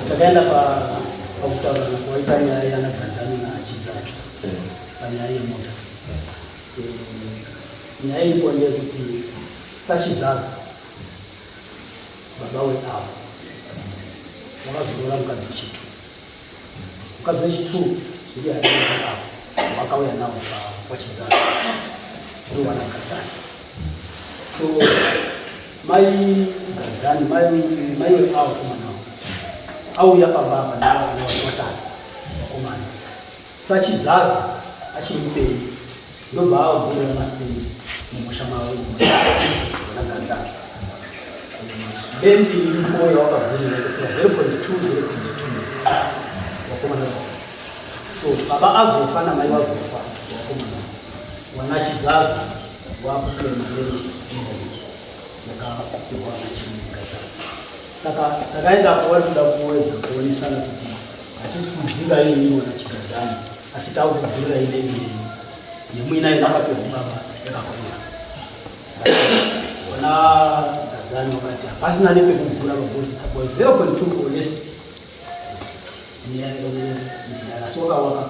Takaenda pa pakutaura kwaita nyaya yana Tanzania na Chizazi panyaya yemota. Nyaya iko ndeyekuti sachizazi baba weavo vakazoroora mukadzi wechitu mukadzi wechitu ndiye aiaa wakauya navo kwachizazi ndiwana mukadzani so Mai Gadzani, mai mai wepawo kumana. Auya pamba apa nawo ana watatu. Kumana. Sachizazi achiri kupei. Ndobva awo kuenda mastendi mumusha mawo. Ana Gadzani. Bendi mkoyo wakagurira kufika 0.2 0.2. Wakomana. So baba azofa na mai wazofa. Wakomana. Wanachizazi saka takaenda kwavari kuda kuedza kuonesana kuti hatisi kudzinga yenyu wana chigadzani asi taukugurira inenge yenyu yemuina inakapiwa kubaba yakakura ona gadzani wakati hapasina nepekugura mabosi tsakwa 0.2 or less so wakawaka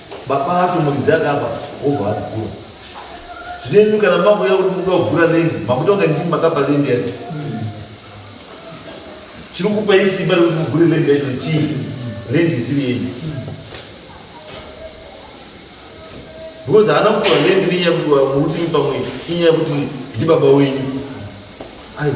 Baba atomukidza akabva obva agura. Zvine imi kana makuya kuti muda kugura lendi makuita kunge ndimi makapa lendi yacho. Chiri kupa hii simba rekuti mugure lendi yacho chii lendi isiri yenyu. Because haana kupiwa lendi nenyaya yekuti murutimi pamwe inyaya yekuti ndibaba wenyu. Aiwa.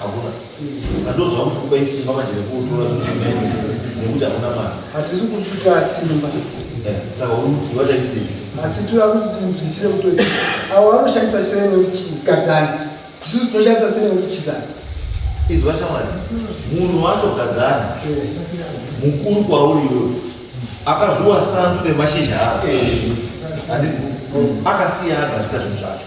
Hakuna. Sandozo hakusi kupa isimba manje rekutora zvisimene nekuti hakuna mari. Hatisi kukupa simba. Eh, saka uri kuti vachaisei? Asi tira kuti tinzwisise kuti avo vanoshandisa chiserero kuti chigadzani. Isusu tinoshandisa serero kuti chisasa. Izwa shamwari. Munhu wacho gadzani. Mukuru kwauri iwe. Akazviwa sanzu nemashizha ako. Handisi akasiya agadzisa zvinhu zvacho.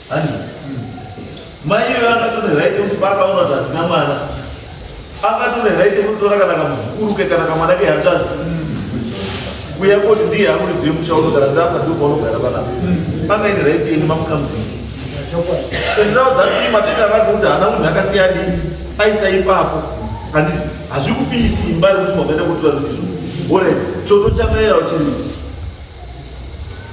Ani. Mai iwe angatore right yekuti baba unoti hatina mwana. Angatore right yekutora kana kamuzukuru ke kana kamwana ke hanzvadzi. Kuya koti ndiye akuri bve musha unogara ndafa ndipo paunogara panapa. Panga ine right yeni mamuka muziki. And now that time matenda rako kuti hana munhu akasiyani aisa ipapo. Handi hazvikupi simba rekuti makaita kuti vanhu izvo. Alright, choto chakayawo chiri.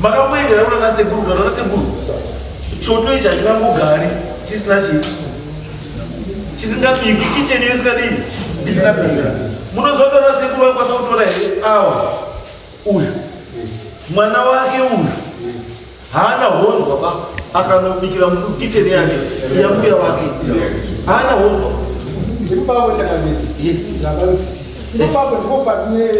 makamboendera kuna nasekuru kana nasekuru choto ichi hachingambogari chisina chi chisingabiki kicheni yo isingadii isingabika munozoda nasekuru vakwanisa kutora here awa uyu mwana wake uyu Haana honzwa ba akanobikira mukitchen yake yambuya wake. Haana honzwa. Ndipavo chakamira. Yes. Ndavanosisisa. Ndipavo ndipo pane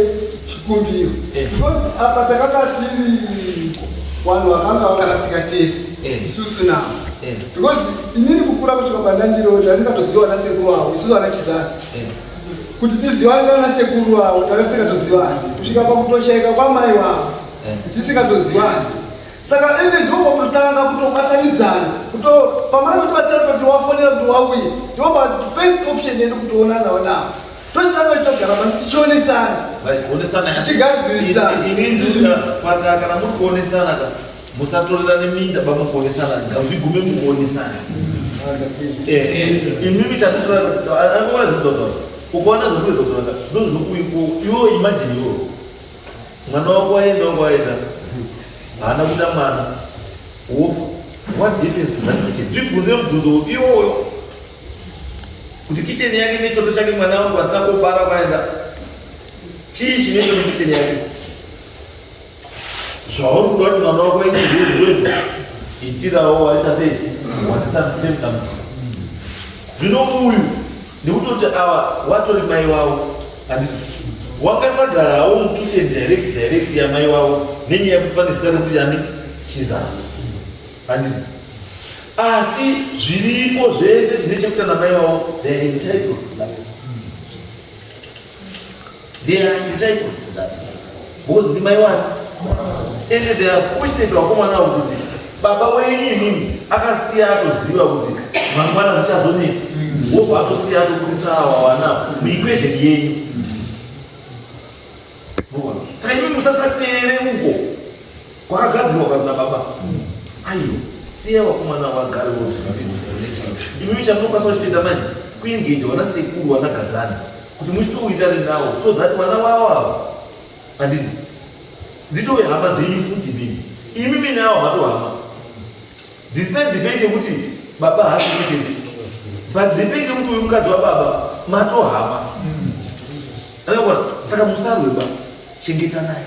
chikumbiro. Eh. Because apa takanga tiri vanhu vakanga vakarasika tese. Eh. Isusu navo. Eh. Because inini kukura kuti baba ndandiroja ndasingatoziva ana sekuru avo isusu ana chizazi. Kuti tizivane nana sekuru avo takasingatoziva kusvika pakutoshaika kwamai wavo. tisingatozivani saka ende ndinoba kutotanga kutobatanidzana kuto pamana kutibatsira kuti wafonera kuti wauye ndinoba first option yedu kutoonanawo navo tochitanga chitogara pasi tichionesana tichigadzirisakana muri kuonesana ka musatorerane minda ba mukuonesana ngazvigume mukuonesana imimi chatotoaoa zvidodo ukaona zvokuizokaka ndozvinokuiko iwo imajini iwo Mwana wangu waenda kwaenda. Haana kuita mwana. Wofa. What happens to that kitchen? Zvibvunze mubvunzo iwoyo. Kuti kitchen yake nechoto chake mwana wangu asina kubara kwaenda. Chii chinoita kuti kitchen yake? Zvauri kuda kuti mwana wako aite zviro izvo. Itirawo waita sei? Wandisa msemtamisa. Zvino uyu ndikutoti awa watori mai wavo handiti wakasagarawo mukitchen direct direct yamai wavo nenyaya yekuti pane zita rekuti yani chizazi handiti asi zviripo zvese zvine chekuita namai wavo theyare entitled They are entitled to that. Because ndi mai wani. And they are fortunate vakomana avo kuti baba wenyu inini akasiya atoziva kuti mangwana zvichazonetsa. Wobva atosiya atobudisa awa wana muequation yenyu. Saka imi musasateere uko. Kwakagadzirwa kwa na baba. Ayo, siya wakomana wagari wo zvinatizi connection. Imi chamunokwanisa kuchitoita manje kuengage wana sekuru wana gadzana kuti muchitouitare nawo so that wana wawo awo handizi dzitove hama dzenyu futi imimi imimi nawo hatohama despite the fact yekuti baba hasi kuchete but the fact yekuti uyu mukadzi wababa matohama anakona saka musarweba chengeta naye